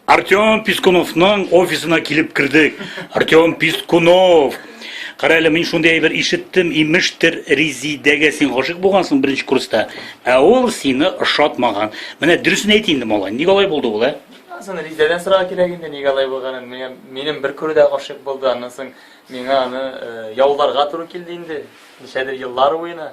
Артем Пискуновның офисына килеп кердек. Артем Пискунов. Кара әле, мин шундый әйбер ишеттем, имештер, Резидәгә син гашык булгансың беренче курста, ә ул сине ошатмаган. Менә дөресен әйт инде, малай, ник алай булды ул, ә? Аны Резидәдән сорау кирәк инде, ник алай булганын. Миңа минем бер күрүдә гашык булды, аннан соң миңа аны э, яуларга туры килде инде, ничәдер еллар буена.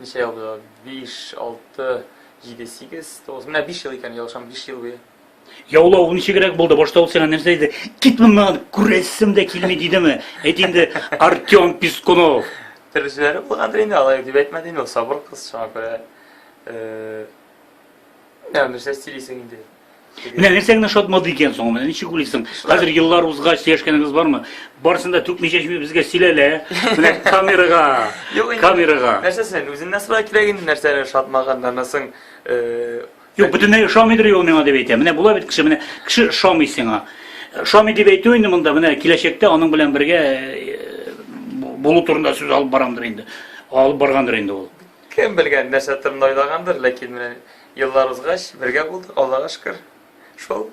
Ничә ел буе? Биш, алты, җиде, сигез, тугыз. Менә биш ел икән, ялгышам, биш ел буе. Яулау ничегрәк булды? Башта ул сиңа нәрсә диде? Кит моннан, күрәсем дә килми дидеме? Әйт инде, Артем Пискунов. Төрлесәләре булгандыр инде, алай дип әйтмәде инде, ул сабыр кыз, шуңа күрә. Ә нәрсә сөйлисең инде? Менә нәрсә генә шатмады икән соң, менә ничек уйлыйсың? Хәзер еллар узгач сөйләшкәнегез бармы? Барысын да түкми-чәчми безгә сөйләлә. Менә камерага. Юк, камерага. Нәрсәсен үзеннән сорау кирәк инде нәрсәне шатмаганнарны соң. Э, Юк, бөтенләй ошамыйдыр ул миңа дип әйтә. Менә була бит кеше, менә кеше ошамый сиңа. Ошамый дип әйтү инде монда, менә киләчәктә аның белән бергә э, булу турында сүз алып барамдыр инде. Алып баргандыр инде ул. Кем белгән нәрсә турында уйлагандыр, ләкин менә Еллар узгач, бергә булдык, Аллага шөкер. Шул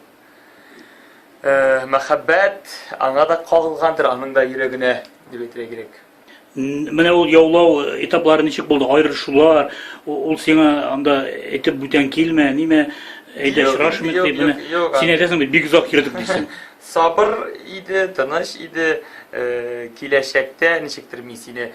мәхәббәт аңа да кагылгандыр, аның да йөрәгенә, дип әйтергә кирәк. Менә ул яулау этаплары ничек булды? Аерышулар, ул сиңа анда әйтеп бүтән килмә, нимә, әйдә очрашмыйк дип, менә син әйтәсең бит, бик озак йөрдек дисең. Сабыр иде, тыныч иде, киләчәктә ничектер мин сине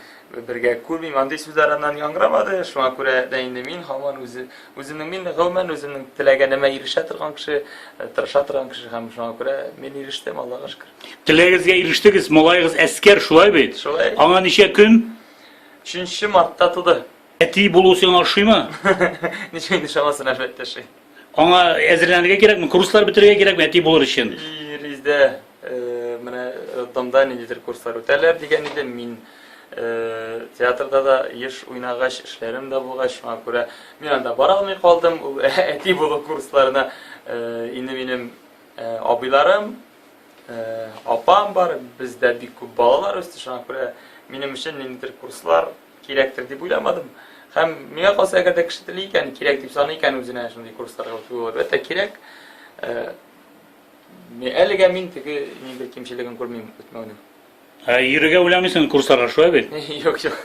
Бергә күрмим, андый сүзләр аннан яңгырамады, шуңа күрә дә инде мин һаман үзе, үземнең мин гомумән үземнең теләгәнемә ирешә торган кеше, э, тырыша торган кеше һәм шуңа күрә мин ирештем, Аллага шөкер. Теләгегезгә ирештегез, малаегыз әскәр, шулай бит? Шулай. Аңа ничә көн? 3 мартта туды. Әти булу сиңа ошыймы? Ничек инде шамасын әлбәттә ши. Аңа әзерләнергә кирәкме? Курслар бетерергә кирәкме әти булыр өчен? Иризә э, менә роддомда э, ниндидер курслар үтәләр дигән иде. Мин э, театрда да еш уйнагач, эшләрем дә булгач, шуңа күрә мин анда бара алмый калдым. Ул әти булу курсларына инде минем абыйларым, апам бар, бездә бик күп балалар үсте, шуңа күрә минем өчен ниндидер курслар Кирәктер дип уйламадым. Һәм миңа калса, әгәр дә кеше тели икән, кирәк дип саный икән үзенә шундый курсларга үтү әлбәттә кирәк. Э, әлегә мин теге ни бер кимчелеген күрмим үтмәүнең. Ә йөрергә уйламыйсың курсларга шулай бит? Юк, юк.